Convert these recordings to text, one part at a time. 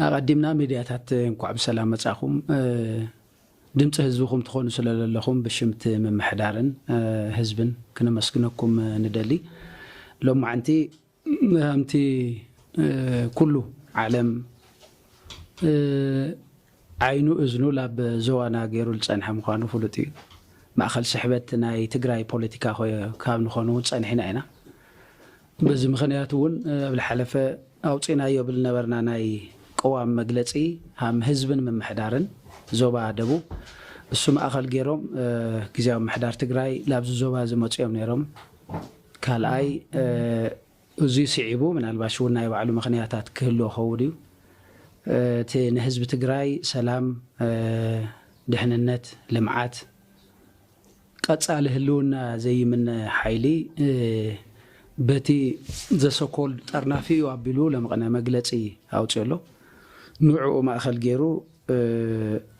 ኣቐዲምና ሚድያታት እንኳዕ ብሰላም መፃኹም ድምፂ ህዝብኹም ትኾኑ ስለለለኹም ብሽምቲ ምምሕዳርን ህዝብን ክነመስግነኩም ንደሊ ሎማዕንቲ ከምቲ ኩሉ ዓለም ዓይኑ እዝኑ ላብ ዞዋና ገይሩ ልፀንሐ ምዃኑ ፍሉጥ እዩ። ማእኸል ስሕበት ናይ ትግራይ ፖለቲካ ኮ ካብ ንኾን እውን ፀኒሕና ኢና። በዚ ምኽንያት እውን ኣብ ልሓለፈ ኣውፂእናዮ ብልነበርና ናይ ቅዋም መግለፂ ሃም ህዝብን ምምሕዳርን ዞባ ደቡብ እሱ ማእኸል ገይሮም ግዝያዊ ምምሕዳር ትግራይ ላብዚ ዞባ እዚ መፂኦም ነይሮም። ካልኣይ እዙይ ስዒቡ ምናልባሽ እውን ናይ ባዕሉ ምኽንያታት ክህልዎ ኸውን እዩ። እቲ ንህዝቢ ትግራይ ሰላም፣ ድሕንነት፣ ልምዓት፣ ቀፃሊ ህልውና ዘይምነ ሓይሊ በቲ ዘሰኮልድ ጠርናፊ እዩ ኣቢሉ ለምቕነ መግለፂ ኣውፂኡ ኣሎ። ንዕኡ ማእኸል ገይሩ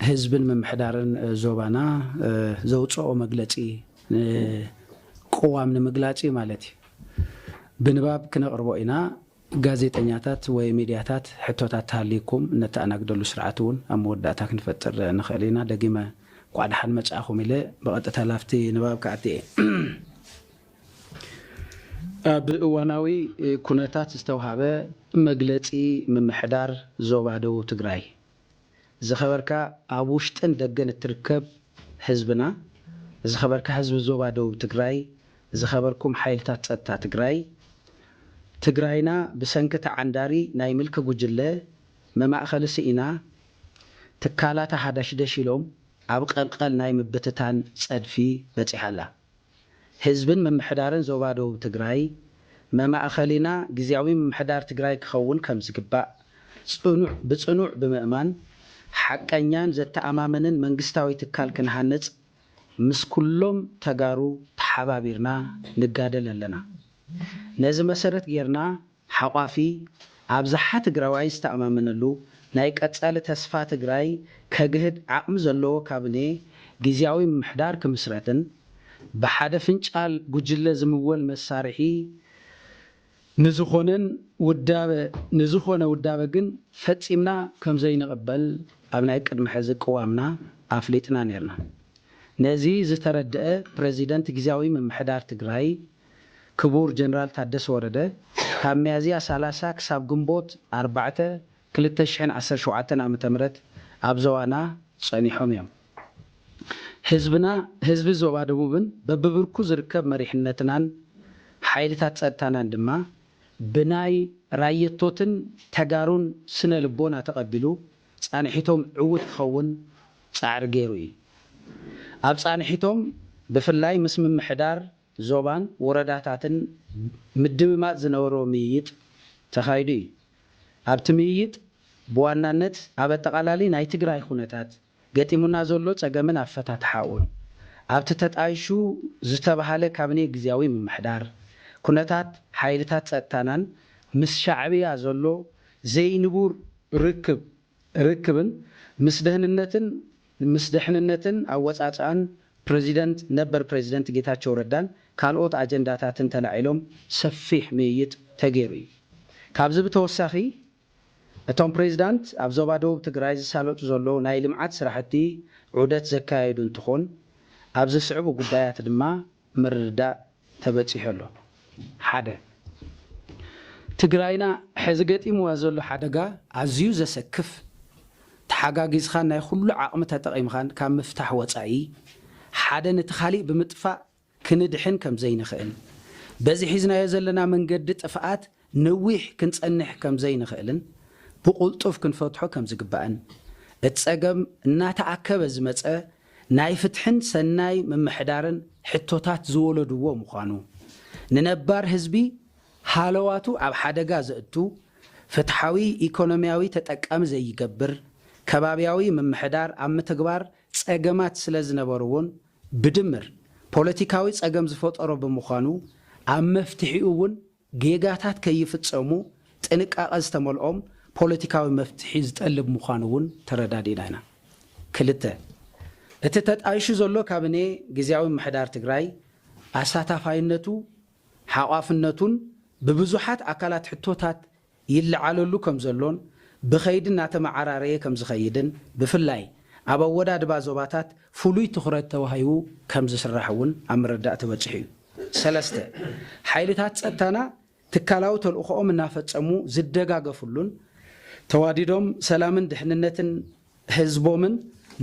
ህዝብን ምምሕዳርን ዞባና ዘውፀኦ መግለፂ ቅዋም ንምግላፅ እዩ ማለት እዩ። ብንባብ ክነቕርቦ ኢና። ጋዜጠኛታት ወይ ሚድያታት ሕቶታት ተሃልዩኩም እነተኣናግደሉ ስርዓት እውን ኣብ መወዳእታ ክንፈጥር ንኽእል ኢና። ደጊመ እንኳዕ ደሓን መፃእኹም ኢለ ብቐጥታ ላብቲ ንባብ ክኣቲ እየ። ኣብ እዋናዊ ኩነታት ዝተውሃበ መግለፂ ምምሕዳር ዞባ ደቡብ ትግራይ ዝኸበርካ ኣብ ውሽጥን ደገን እትርከብ ህዝብና፣ ዝኸበርካ ህዝቢ ዞባ ደቡብ ትግራይ፣ ዝኸበርኩም ሓይልታት ፀጥታ ትግራይ፣ ትግራይና ብሰንኪ ተዓንዳሪ ናይ ምልኪ ጉጅለ መማእኸሊ ስኢና ትካላታ ሃዳሽደሽ ኢሎም ኣብ ቐልቐል ናይ ምብትታን ፀድፊ በፂሓ ኣላ። ህዝብን ምምሕዳርን ዞባ ደቡብ ትግራይ መማእኸሊና ግዝያዊ ምምሕዳር ትግራይ ክኸውን ከምዝግባእ ፅኑዕ ብፅኑዕ ብምእማን ሓቀኛን ዘተኣማምንን መንግስታዊ ትካል ክንሃንፅ ምስ ኩሎም ተጋሩ ተሓባቢርና ንጋደል ኣለና። ነዚ መሰረት ገይርና ሓቋፊ ኣብዝሓ ትግራዋይ ዝተኣማመነሉ ናይ ቀፃሊ ተስፋ ትግራይ ከግህድ ዓቕሚ ዘለዎ ካብኔ ጊዚያዊ ምምሕዳር ክምስረትን ብሓደ ፍንጫል ጉጅለ ዝምወል መሳርሒ ንዝኾነን ውዳበ ንዝኾነ ውዳበ ግን ፈፂምና ከምዘይንቕበል ኣብ ናይ ቅድሚ ሕዚ ቅዋምና ኣፍሊጥና ነይርና። ነዚ ዝተረደኣ ፕረዚደንት ጊዚያዊ ምምሕዳር ትግራይ፣ ክቡር ጀነራል ታደሰ ወረደ ካብ ሚያዝያ ሰላሳ ክሳብ ግንቦት ኣርባዕተ ክልተ ሽሕን ዓሰርተ ሸውዓተን ዓመተ ምህረት ኣብ ዞባና ፀኒሖም እዮም። ህዝብና ህዝቢ ዞባ ደቡብን በቢብርኩ ዝርከብ መሪሕነትናን ሓይልታት ፀጥታናን ድማ ብናይ ራየቶትን ተጋሩን ስነ ልቦና ተቐቢሉ ፃንሒቶም ዕውት ክኸውን ፃዕሪ ገይሩ እዩ። ኣብ ፃንሒቶም ብፍላይ ምስ ምምሕዳር ዞባን ወረዳታትን ምድምማፅ ዝነበሮ ምይይጥ ተኻይዱ እዩ። ኣብቲ ምይይጥ ብዋናነት ኣብ ኣጠቓላሊ ናይ ትግራይ ኹነታት፣ ገጢሙና ዘሎ ፀገምን ኣፈታትሓኡን፣ ኣብቲ ተጣይሹ ዝተብሃለ ካብኔ ግዝያዊ ምምሕዳር፣ ኩነታት ሓይልታት ፀጥታናን ምስ ሻዕብያ ዘሎ ዘይንቡር ርክብ ርክብን ምስ ደህንነትን ምስ ደሕንነትን ኣወፃፅኣን ፕረዚደንት ነበር ፕረዚደንት ጌታቸው ረዳን ካልኦት ኣጀንዳታትን ተላዒሎም ሰፊሕ ምይይጥ ተገይሩ እዩ። ካብዚ ብተወሳኺ እቶም ፕሬዚዳንት ኣብ ዞባ ደቡብ ትግራይ ዝሳለጡ ዘለዉ ናይ ልምዓት ስራሕቲ ዑደት ዘካየዱ እንትኾን ኣብ ዝስዕቡ ጉዳያት ድማ ምርድዳእ ተበጺሑ ኣሎ። ሓደ። ትግራይና ሕዚ ገጢምዋ ዘሎ ሓደጋ ኣዝዩ ዘሰክፍ፣ ተሓጋጊዝኻን ናይ ኹሉ ዓቕሚ ተጠቒምኻን ካብ ምፍታሕ ወጻኢ ሓደ ንቲ ካሊእ ብምጥፋእ ክንድሕን ከምዘይንኽእል፣ በዚ ሒዝናዮ ዘለና መንገዲ ጥፍኣት ነዊሕ ክንጸንሕ ከም ዘይንኽእልን ብቕልጡፍ ክንፈትሖ ከም ዝግባእን፣ እቲ ጸገም እናተኣከበ ዝመጸ ናይ ፍትሕን ሰናይ ምምሕዳርን ሕቶታት ዝወለድዎ ምዃኑ፣ ንነባር ህዝቢ ሃለዋቱ ኣብ ሓደጋ ዘእቱ፣ ፍትሓዊ ኢኮኖሚያዊ ተጠቃሚ ዘይገብር ከባቢያዊ ምምሕዳር ኣብ ምትግባር ጸገማት ስለ ዝነበርዎን ብድምር ፖለቲካዊ ጸገም ዝፈጠሮ ብምዃኑ ኣብ መፍትሒኡ'ውን ጌጋታት ከይፍፀሙ ጥንቃቐ ዝተመልኦም ፖለቲካዊ መፍትሒ ዝጠልብ ምዃኑ እውን ተረዳዲእና ኢና። ክልተ፣ እቲ ተጣይሹ ዘሎ ካብኔ ግዝያዊ ምምሕዳር ትግራይ ኣሳታፋይነቱ፣ ሓቋፍነቱን ብብዙሓት ኣካላት ሕቶታት ይለዓለሉ ከም ዘሎን ብኸይዲ እናተመዓራረየ ከም ዝኸይድን ብፍላይ ኣብ ኣወዳድባ ዞባታት ፍሉይ ትኹረት ተዋሂቡ ከም ዝስራሕ እውን ኣብ ምርዳእ ተበፂሑ እዩ። ሰለስተ፣ ሓይልታት ፀጥታና ትካላዊ ተልእኾኦም እናፈፀሙ ዝደጋገፍሉን ተዋዲዶም ሰላምን ድሕንነትን ህዝቦምን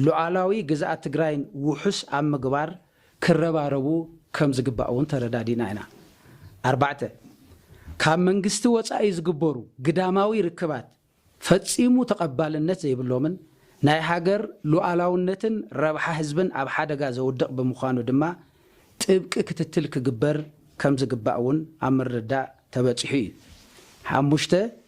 ሉኣላዊ ግዝኣት ትግራይን ውሑስ ኣብ ምግባር ክረባረቡ ከም ዝግባእ እውን ተረዳዲእና ኢና። ኣርባዕተ፣ ካብ መንግስቲ ወጻኢ ዝግበሩ ግዳማዊ ርክባት ፈጺሙ ተቐባልነት ዘይብሎምን ናይ ሃገር ሉኣላውነትን ረብሓ ህዝብን ኣብ ሓደጋ ዘውድቕ ብምዃኑ ድማ ጥብቂ ክትትል ክግበር ከም ዝግባእ እውን ኣብ ምርድዳእ ተበጺሑ እዩ። ሓሙሽተ፣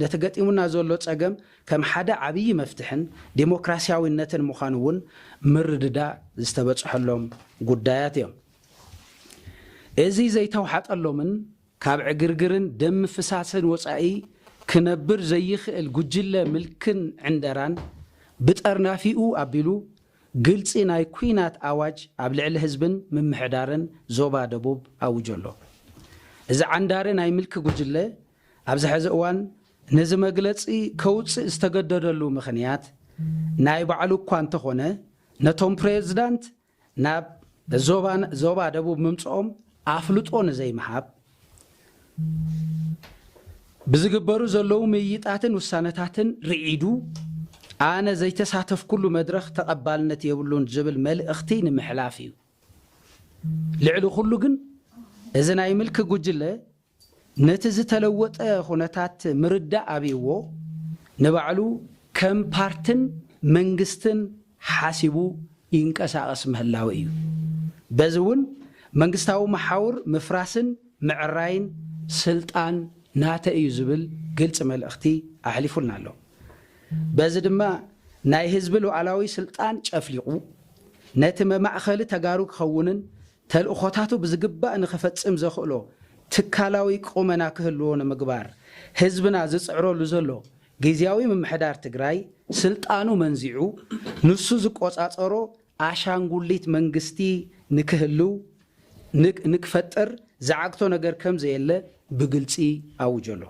ነቲ ገጢሙና ዘሎ ጸገም ከም ሓደ ዓብዪ መፍትሕን ዴሞክራሲያዊነትን ምዃኑ እውን ምርድዳእ ዝተበጽሐሎም ጉዳያት እዮም። እዚ ዘይተውሓጠሎምን ካብ ዕግርግርን ደም ምፍሳስን ወጻኢ ክነብር ዘይኽእል ጉጅለ ምልክን ዕንደራን ብጠርናፊኡ ኣቢሉ ግልጺ ናይ ኲናት ኣዋጅ ኣብ ልዕሊ ህዝብን ምምሕዳርን ዞባ ደቡብ ኣውጆ ኣሎ። እዚ ዓንዳሪ ናይ ምልኪ ጉጅለ፣ ኣብዚ ሐዚ እዋን ነዚ መግለፂ ከውፅእ ዝተገደደሉ ምኽንያት ናይ ባዕሉ እኳ እንተኾነ ነቶም ፕሬዝዳንት ናብ ዞባ ደቡብ ምምፅኦም ኣፍልጦ ንዘይምሃብ ብዝግበሩ ዘለዉ ምይይጣትን ውሳነታትን ርዒዱ ኣነ ዘይተሳተፍኩሉ መድረኽ ተቐባልነት የብሉን ዝብል መልእኽቲ ንምሕላፍ እዩ። ልዕሊ ኩሉ ግን እዚ ናይ ምልኪ ጉጅለ ነቲ ዝተለወጠ ኩነታት ምርዳእ ኣብይዎ ንባዕሉ ከም ፓርትን መንግስትን ሓሲቡ ይንቀሳቐስ ምህላው እዩ። በዚ እውን መንግስታዊ መሓውር ምፍራስን ምዕራይን ስልጣን ናተይ እዩ ዝብል ግልፂ መልእኽቲ ኣሕሊፉልና ኣሎ። በዚ ድማ ናይ ህዝቢ ሉኣላዊ ስልጣን ጨፍሊቑ ነቲ መማእኸሊ ተጋሩ ክኸውንን ተልእኾታቱ ብዝግባእ ንክፈፅም ዘኽእሎ ትካላዊ ቁመና ክህልዎ ንምግባር ህዝብና ዝፅዕረሉ ዘሎ ጊዚያዊ ምምሕዳር ትግራይ ስልጣኑ መንዚዑ ንሱ ዝቆፃፀሮ ኣሻንጉሊት መንግስቲ ንክህልው ንክፈጥር ዝዓግቶ ነገር ከምዘየለ ብግልፂ ኣውጆ ኣሎ።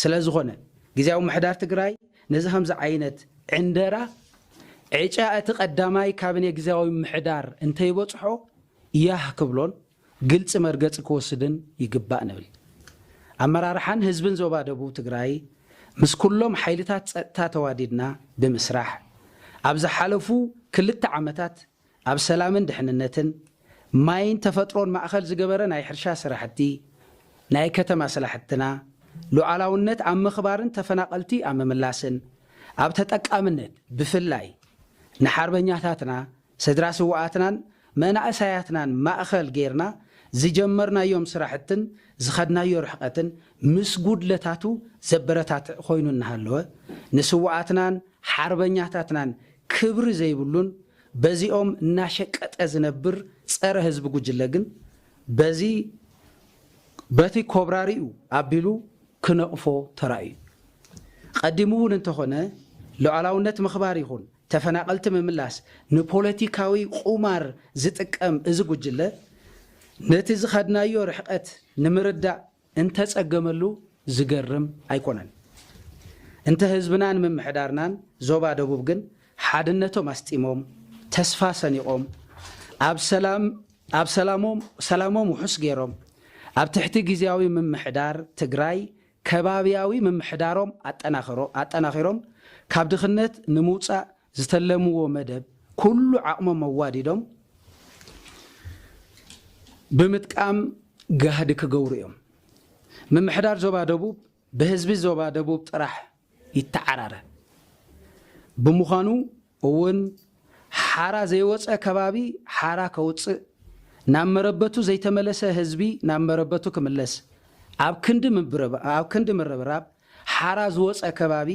ስለዝኾነ ጊዚያዊ ምምሕዳር ትግራይ ነዚ ከምዚ ዓይነት ዕንደራ ዕጫ እቲ ቀዳማይ ካብኔ ግዝያዊ ምምሕዳር እንተይበፅሖ ያህ ክብሎን ግልፂ መርገፂ ክወስድን ይግባእ ንብል። ኣመራርሓን ህዝብን ዞባ ደቡብ ትግራይ ምስ ኩሎም ሓይልታት ፀጥታ ተዋዲድና ብምስራሕ ኣብ ዝሓለፉ ክልተ ዓመታት ኣብ ሰላምን ድሕንነትን፣ ማይን ተፈጥሮን ማእኸል ዝገበረ ናይ ሕርሻ ስራሕቲ፣ ናይ ከተማ ስላሕትና፣ ሉዓላውነት ኣብ ምኽባርን ተፈናቐልቲ ኣብ ምምላስን፣ ኣብ ተጠቃምነት ብፍላይ ንሓርበኛታትና፣ ስድራ ስውኣትናን መናእሳያትናን ማእኸል ገይርና ዝጀመርናዮም ስራሕትን ዝኸድናዮ ርሕቐትን ምስ ጉድለታቱ ዘበረታትዕ ኮይኑ እናሃለወ ንስውኣትናን ሓርበኛታትናን ክብሪ ዘይብሉን በዚኦም እናሸቀጠ ዝነብር ፀረ ህዝቢ ጉጅለ ግን በዚ በቲ ኮብራሪኡ ኣቢሉ ክነቕፎ ተራእዩ። ቐዲሙ እውን እንተኾነ ሉዓላውነት ምኽባር ይኹን ተፈናቐልቲ ምምላስ ንፖለቲካዊ ቑማር ዝጥቀም እዚ ጉጅለ ነቲ ዝኸድናዮ ርሕቐት ንምርዳእ እንተጸገመሉ ዝገርም ኣይኮነን። እንተ ህዝብናን ምምሕዳርናን ዞባ ደቡብ ግን ሓድነቶም ኣስጢሞም፣ ተስፋ ሰኒቖም፣ ኣብ ሰላም ኣብ ሰላሞም ሰላሞም ውሑስ ገይሮም፣ ኣብ ትሕቲ ግዝያዊ ምምሕዳር ትግራይ ከባብያዊ ምምሕዳሮም ኣጠናኸሮ ኣጠናኺሮም ካብ ድኽነት ንምውጻእ ዝተለምዎ መደብ ኩሉ ዓቕሞም ኣዋዲዶም ብምጥቃም ጋህዲ ክገብሩ እዮም። ምምሕዳር ዞባ ደቡብ ብህዝቢ ዞባ ደቡብ ጥራሕ ይተዓራረ ብምዃኑ እውን ሓራ ዘይወፀ ከባቢ ሓራ ከውፅእ፣ ናብ መረበቱ ዘይተመለሰ ህዝቢ ናብ መረበቱ ክምለስ ኣብ ክንዲ ምብርባብ ሓራ ዝወጸ ከባቢ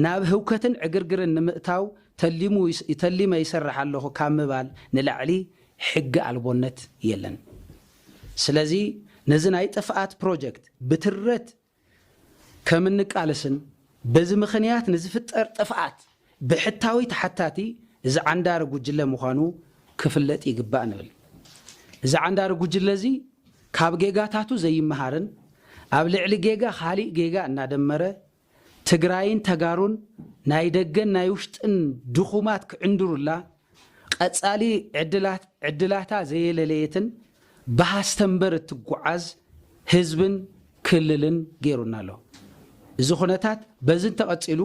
ናብ ህውከትን ዕግርግርን ንምእታው ተሊሙ ተሊመ ይሰርሕ ኣለኹ ካብ ምባል ንላዕሊ ሕጊ ኣልቦነት የለን። ስለዚ ነዚ ናይ ጥፍኣት ፕሮጀክት ብትረት ከም እንቃለስን በዚ ምኽንያት ንዝፍጠር ጥፍኣት ብሕታዊ ተሓታቲ እዚ ዓንዳሪ ጉጅለ ምዃኑ ክፍለጥ ይግባእ ንብል። እዚ ዓንዳሪ ጉጅለ እዚ ካብ ጌጋታቱ ዘይመሃርን ኣብ ልዕሊ ጌጋ ካሊእ ጌጋ እናደመረ ትግራይን ተጋሩን ናይ ደገን ናይ ውሽጥን ድኹማት ክዕንድሩላ ቀጻሊ ዕድላት ዕድላታ ዘየለለየትን ብሃስተምበር እትጉዓዝ ህዝብን ክልልን ገይሩና ኣሎ። እዚ ኩነታት በዚ እንተቐጺሉ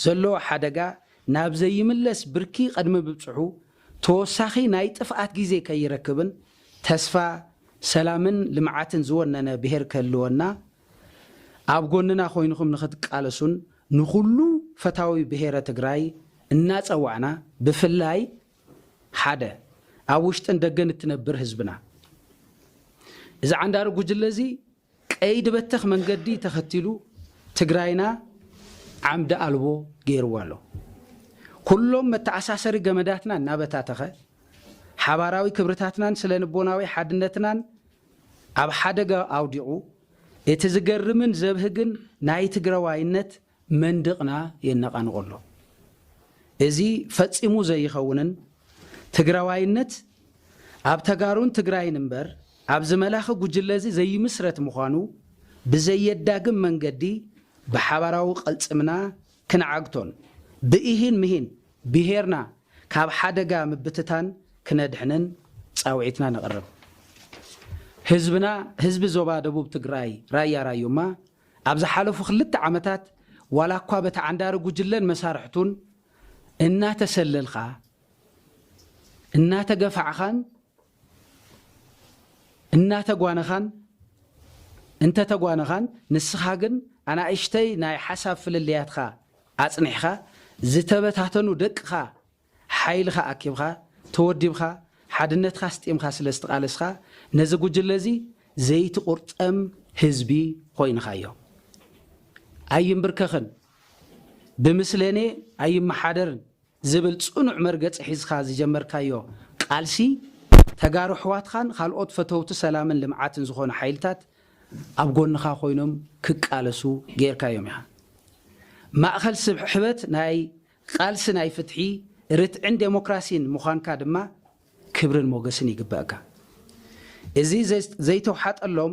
ዘሎ ሓደጋ ናብ ዘይምለስ ብርኪ ቅድሚ ምብጽሑ ተወሳኺ ናይ ጥፍኣት ግዜ ከይረክብን ተስፋ ሰላምን ልምዓትን ዝወነነ ብሄር ክህልወና ኣብ ጎንና ኮይንኹም ንኽትቃለሱን ንኹሉ ፈታዊ ብሄረ ትግራይ እናፀዋዕና ብፍላይ ሓደ ኣብ ውሽጥን ደገን እትነብር ህዝብና እዚ ዓንዳሪ ጉጅለ እዚ ቀይዲ በተኽ መንገዲ ተኸቲሉ ትግራይና ዓምዲ ኣልቦ ገይርዋ ኣሎ። ኩሎም መተኣሳሰሪ ገመዳትና እናበታተኸ ሓባራዊ ክብርታትናን ስለንቦናዊ ሓድነትናን ኣብ ሓደጋ ኣውዲቑ እቲ ዝገርምን ዘብህግን ናይ ትግራዋይነት መንድቕና የነቓንቖ ኣሎ። እዚ ፈጺሙ ዘይኸውንን ትግራዋይነት ኣብ ተጋሩን ትግራይን እምበር ኣብዚ መላኺ ጉጅለዚ ዘይምስረት ምዃኑ ብዘየዳግም መንገዲ ብሓባራዊ ቅልጽምና ክንዓግቶን ብኢሂን ምሂን ብሄርና ካብ ሓደጋ ምብትታን ክነድሕንን ፃውዒትና ነቕርብ። ህዝብና ህዝቢ ዞባ ደቡብ ትግራይ ራያ ራዩማ ኣብ ዝሓለፉ ክልተ ዓመታት ዋላ እኳ በቲ ዓንዳሪ ጉጅለን መሳርሕቱን እናተሰለልኻ፣ እናተገፋዕኻን እናተጓነኻን እንተተጓነኻን ንስኻ ግን ኣናእሽተይ ናይ ሓሳብ ፍልልያትካ ኣጽኒሕኻ ዝተበታተኑ ደቅኻ ሓይልኻ ኣኪብኻ ተወዲብኻ ሓድነትካ ኣስጢምካ ስለ ዝትቓለስኻ ነዚ ጉጅለ እዚ ዘይትቑርጠም ህዝቢ ኾይንኻዮ። ኣይምብርከኽን፣ ብምስለኔ ኣይመሓደርን፣ ዝብል ጽኑዕ መርገጺ ሒዝካ ዝጀመርካዮ ቃልሲ፣ ተጋሩ ኣሕዋትካን ካልኦት ፈተውቲ ሰላምን ልምዓትን ዝኾኑ ሓይልታት ኣብ ጎንኻ ኮይኖም ክቃለሱ ገይርካዮም ኢኻ። ማእኸል ስሕበት ናይ ቃልሲ ናይ ፍትሒ፣ ርትዕን ደሞክራሲን ምዃንካ ድማ ክብርን ሞገስን ይግበእካ። እዚ ዘይተውሓጠሎም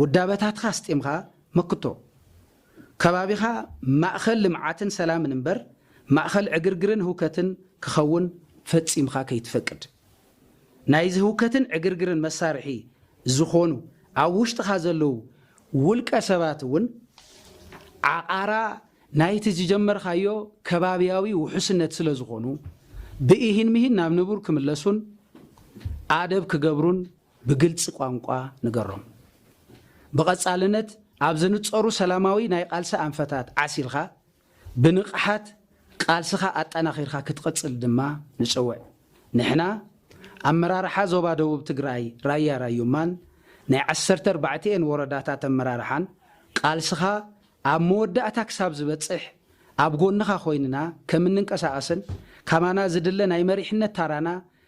ውዳበታትካ ኣስጢምካ መክቶ ከባቢኻ ማእኸል ልምዓትን ሰላምን እምበር ማእኸል ዕግርግርን ህውከትን ክኸውን ፈፂምኻ ከይትፈቅድ። ናይዚ ህውከትን ዕግርግርን መሳርሒ ዝኾኑ ኣብ ውሽጥኻ ዘለዉ ውልቀ ሰባት እውን ዓቛራ ናይቲ ዝጀመርኻዮ ከባቢያዊ ውሑስነት ስለዝኾኑ ብኢሂን ምሂን ናብ ንቡር ክምለሱን ኣደብ ክገብሩን ብግልፂ ቋንቋ ንገሮም። ብቐፃልነት ኣብ ዝንፀሩ ሰላማዊ ናይ ቓልሲ ኣንፈታት ዓሲልኻ ብንቕሓት ቓልስኻ ኣጠናኺርካ ክትቕፅል ድማ ንፅውዕ። ንሕና ኣመራርሓ ዞባ ደቡብ ትግራይ ራያ ራዩማን ናይ ዓሰርተ ኣርባዕቲኤን ወረዳታት ኣመራርሓን ቓልስኻ ኣብ መወዳእታ ክሳብ ዝበፅሕ ኣብ ጎንኻ ኮይንና ከምንንቀሳቐስን ካባና ዝድለ ናይ መሪሕነት ታራና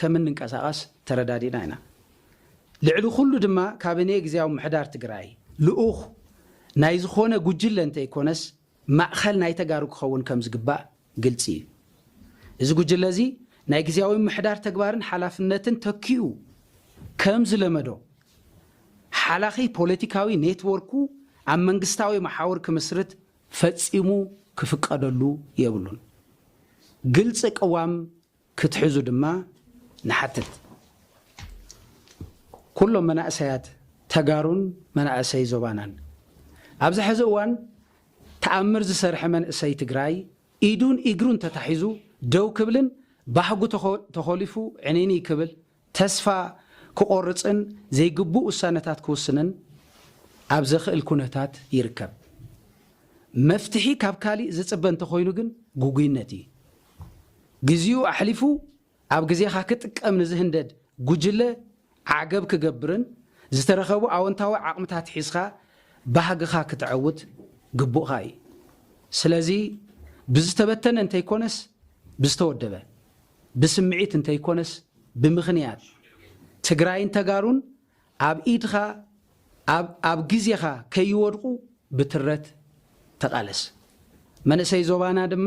ከም እንንቀሳቐስ ተረዳዲእና ኢና። ልዕሊ ኩሉ ድማ ካብኔ ግዝያዊ ምሕዳር ትግራይ ልኡኽ ናይ ዝኾነ ጉጅለ እንተይኮነስ ማእኸል ናይ ተጋሩ ክኸውን ከም ዝግባእ ግልፂ እዩ። እዚ ጉጅለ እዚ ናይ ግዝያዊ ምሕዳር ተግባርን ሓላፍነትን ተኪኡ ከም ዝለመዶ ሓላኺ ፖለቲካዊ ኔትዎርኩ ኣብ መንግስታዊ መሓውር ክምስርት ፈፂሙ ክፍቀደሉ የብሉን። ግልፂ ቅዋም ክትሕዙ ድማ ንሓትት። ኩሎም መናእሰያት ተጋሩን መናእሰይ ዞባናን ኣብዚ ሐዚ እዋን ተኣምር ዝሰርሐ መንእሰይ ትግራይ ኢዱን ኢግሩን ተታሒዙ ደው ክብልን ባህጉ ተኾሊፉ ዕንይንይ ክብል ተስፋ ክቖርጽን ዘይግቡእ ውሳነታት ክውስንን ኣብ ዘኽእል ኩነታት ይርከብ። መፍትሒ ካብ ካሊእ ዝጽበ እንተኾይኑ ግን ግጉይነት እዩ። ግዚኡ ኣሕሊፉ ኣብ ግዜኻ ክጥቀም ንዝህንደድ ጉጅለ ዓገብ ክገብርን ዝተረኸቡ ኣወንታዊ ዓቕምታት ሒዝኻ ባህግኻ ክተዐውት ግቡእኻ እዩ። ስለዚ ብዝተበተነ እንተይኮነስ ብዝተወደበ። ብስምዒት እንተይኮነስ ብምኽንያት ትግራይን ተጋሩን ኣብ ኢድኻ ኣብ ኣብ ግዜኻ ከይወድቑ ብትረት ተቓለስ። መንእሰይ ዞባና ድማ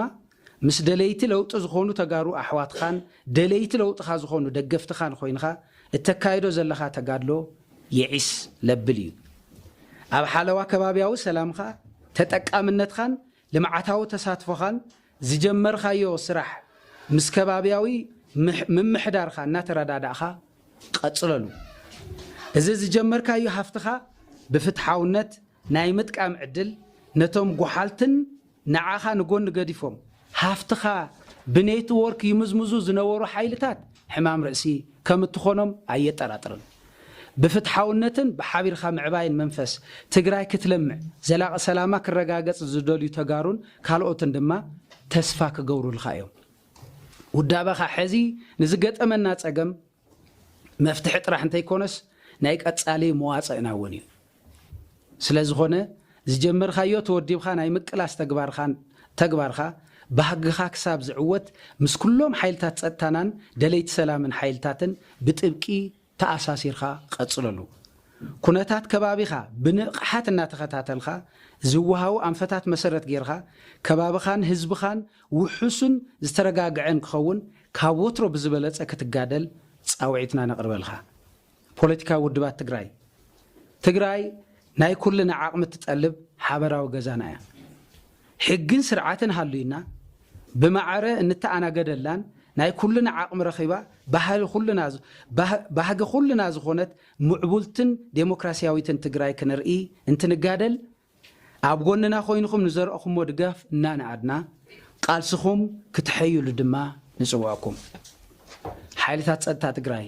ምስ ደለይቲ ለውጢ ዝኾኑ ተጋሩ ኣሕዋትኻን ደለይቲ ለውጥኻ ዝኾኑ ደገፍትኻን ኾይንኻ እተካይዶ ዘለኻ ተጋድሎ የዒስ ለብል እዩ። ኣብ ሓለዋ ከባብያዊ ሰላምኻ፣ ተጠቃምነትኻን ልምዓታዊ ተሳትፎኻን ዝጀመርካዮ ስራሕ ምስ ከባብያዊ ምምሕዳርካ እናተረዳዳእኻ ቐፅለሉ። እዚ ዝጀመርካዮ ሃፍትኻ ብፍትሓውነት ናይ ምጥቃም ዕድል ነቶም ጎሓልትን ንዓኻ ንጎኒ ገዲፎም ሃፍትኻ ብኔትዎርክ ይምዝምዙ ዝነበሩ ሓይልታት ሕማም ርእሲ ከም እትኾኖም ኣየጠራጥርን። ብፍትሓውነትን ብሓቢርካ ምዕባይን መንፈስ ትግራይ ክትለምዕ ዘላቒ ሰላማ ክረጋገፅ ዝደልዩ ተጋሩን ካልኦትን ድማ ተስፋ ክገብሩልኻ እዮም። ውዳበኻ ሕዚ ንዝገጠመና ፀገም መፍትሒ ጥራሕ እንተይኮነስ ናይ ቀፃሊ መዋፅእና እውን እዩ። ስለዝኾነ ዝጀመርካዮ ተወዲብካ ናይ ምቅላስ ተግባርካን ተግባርካ ባህግኻ ክሳብ ዝዕወት ምስ ኩሎም ሓይልታት ፀጥታናን ደለይቲ ሰላምን ሓይልታትን ብጥብቂ ተኣሳሲርካ ቐፅለሉ። ኩነታት ከባቢኻ ብንቕሓት እናተኸታተልካ ዝወሃቡ ኣንፈታት መሰረት ገይርካ ከባብኻን ህዝብኻን ውሑስን ዝተረጋግዐን ክኸውን ካብ ወትሮ ብዝበለፀ ክትጋደል ፃውዒትና ነቕርበልካ። ፖለቲካዊ ውድባት ትግራይ፣ ትግራይ ናይ ኩልና ዓቕሚ እትጠልብ ሓበራዊ ገዛና እያ። ሕግን ስርዓትን ሃልዩና ብማዕረ እንተኣናገደላን ናይ ኩልና ዓቕሚ ረኺባ ባህሊ ኩልና ባህጊ ኩልና ዝኾነት ምዕቡልትን ዴሞክራሲያዊትን ትግራይ ክንርኢ እንትንጋደል ኣብ ጎንና ኮይንኹም ንዘረእኹሞ ድጋፍ እናነኣድና ቃልስኹም ክተሐይሉ ድማ ንፅውዕኩም። ሓይልታት ፀጥታ ትግራይ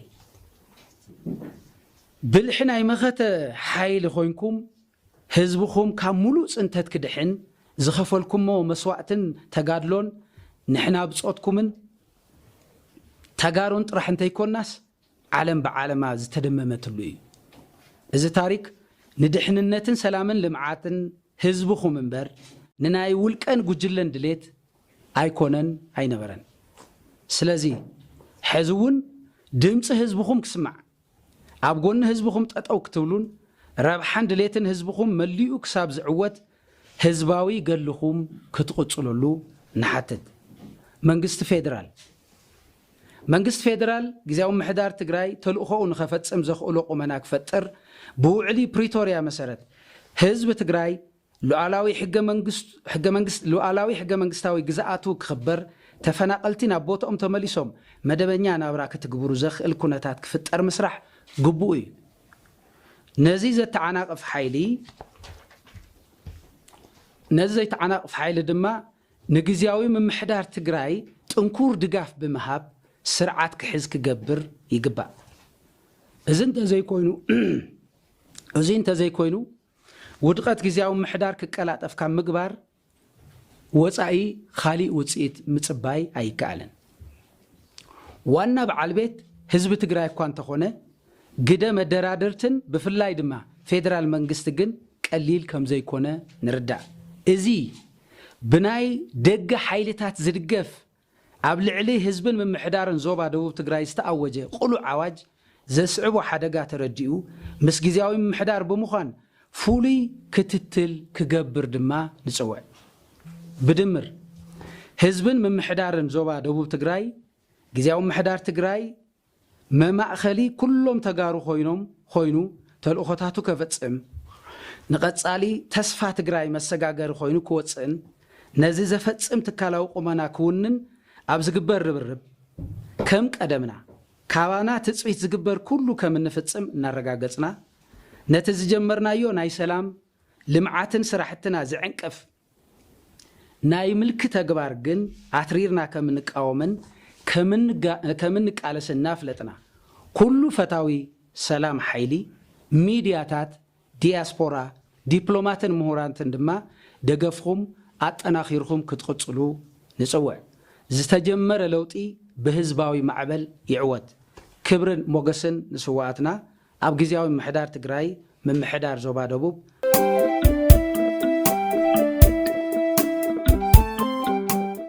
ብልሒ ናይ መኸተ ሓይሊ ኮይንኩም ህዝብኹም ካብ ሙሉእ ፅንተት ክድሕን ዝኸፈልኩሞ መስዋእትን ተጋድሎን ንሕና ብፆትኩምን ተጋሩን ጥራሕ እንተይኮናስ ዓለም ብዓለማ ዝተደመመትሉ እዩ። እዚ ታሪክ ንድሕንነትን ሰላምን ልምዓትን ህዝብኹም እምበር ንናይ ውልቀን ጉጅለን ድሌት ኣይኮነን ኣይነበረን። ስለዚ ሕዚ እውን ድምፂ ህዝብኹም ክስማዕ ኣብ ጎኒ ህዝብኹም ጠጠው ክትብሉን ረብሓን ድሌትን ህዝብኹም መሊኡ ክሳብ ዝዕወት ህዝባዊ ገድልኹም ክትቕፅሉሉ ንሓትት። መንግስቲ ፌዴራል። መንግስቲ ፌደራል ግዝያዊ ምምሕዳር ትግራይ ተልእኾኡ ንኸፈፅም ዘኽእሎ ቁመና ክፈጥር ብውዕሊ ፕሪቶርያ መሰረት ህዝቢ ትግራይ ሉኣላዊ ሕገ መንግስታዊ ግዝኣቱ ክኽበር ተፈናቐልቲ ናብ ቦትኦም ተመሊሶም መደበኛ ናብራ ክትግብሩ ዘኽእል ኩነታት ክፍጠር ምስራሕ ግቡኡ እዩ። ነዚ ዘተዓናቕፍ ሓይሊ ነዚ ዘይተዓናቕፍ ሓይሊ ድማ ንግዝያዊ ምምሕዳር ትግራይ ጥንኩር ድጋፍ ብምሃብ ስርዓት ክሕዝ ክገብር ይግባእ። እዚ እንተዘይኮይኑ እዙይ እንተዘይኮይኑ ውድቐት ግዝያዊ ምምሕዳር ክቀላጠፍ ካብ ምግባር ወፃኢ ኻሊእ ውፅኢት ምፅባይ ኣይከኣልን። ዋና በዓል ቤት ህዝቢ ትግራይ እኳ እንተኾነ ግደ መደራድርትን ብፍላይ ድማ ፌደራል መንግስቲ ግን ቀሊል ከምዘይኮነ ንርዳእ። እዚ ብናይ ደገ ሓይልታት ዝድገፍ ኣብ ልዕሊ ህዝብን ምምሕዳርን ዞባ ደቡብ ትግራይ ዝተኣወጀ ቅሉዕ ኣዋጅ ዘስዕቦ ሓደጋ ተረዲኡ ምስ ግዝያዊ ምምሕዳር ብምዃን ፍሉይ ክትትል ክገብር ድማ ንፅውዕ። ብድምር ህዝብን ምምሕዳርን ዞባ ደቡብ ትግራይ ግዝያዊ ምምሕዳር ትግራይ መማእኸሊ ኩሎም ተጋሩ ኮይኖም ኮይኑ ተልእኾታቱ ከፈፅም ንቐፃሊ ተስፋ ትግራይ መሰጋገሪ ኮይኑ ክወፅእን ነዚ ዘፈፅም ትካላዊ ቁመና ክውንን ኣብ ዝግበር ርብርብ ከም ቀደምና ካባና ትፅቢት ዝግበር ኩሉ ከም እንፍፅም እናረጋገፅና ነቲ ዝጀመርናዮ ናይ ሰላም፣ ልምዓትን ስራሕትና ዝዕንቅፍ ናይ ምልኪ ተግባር ግን ኣትሪርና ከምንቃወምን ከምንቃለስን እናፍለጥና፣ ኩሉ ፈታዊ ሰላም ሓይሊ፣ ሚድያታት፣ ዲያስፖራ፣ ዲፕሎማትን ምሁራትን ድማ ደገፍኹም ኣጠናኺርኹም ክትቕፅሉ ንፅውዕ። ዝተጀመረ ለውጢ ብህዝባዊ ማዕበል ይዕወት። ክብርን ሞገስን ንስውኣትና ኣብ ግዝያዊ ምምሕዳር ትግራይ ምምሕዳር ዞባ ደቡብ፣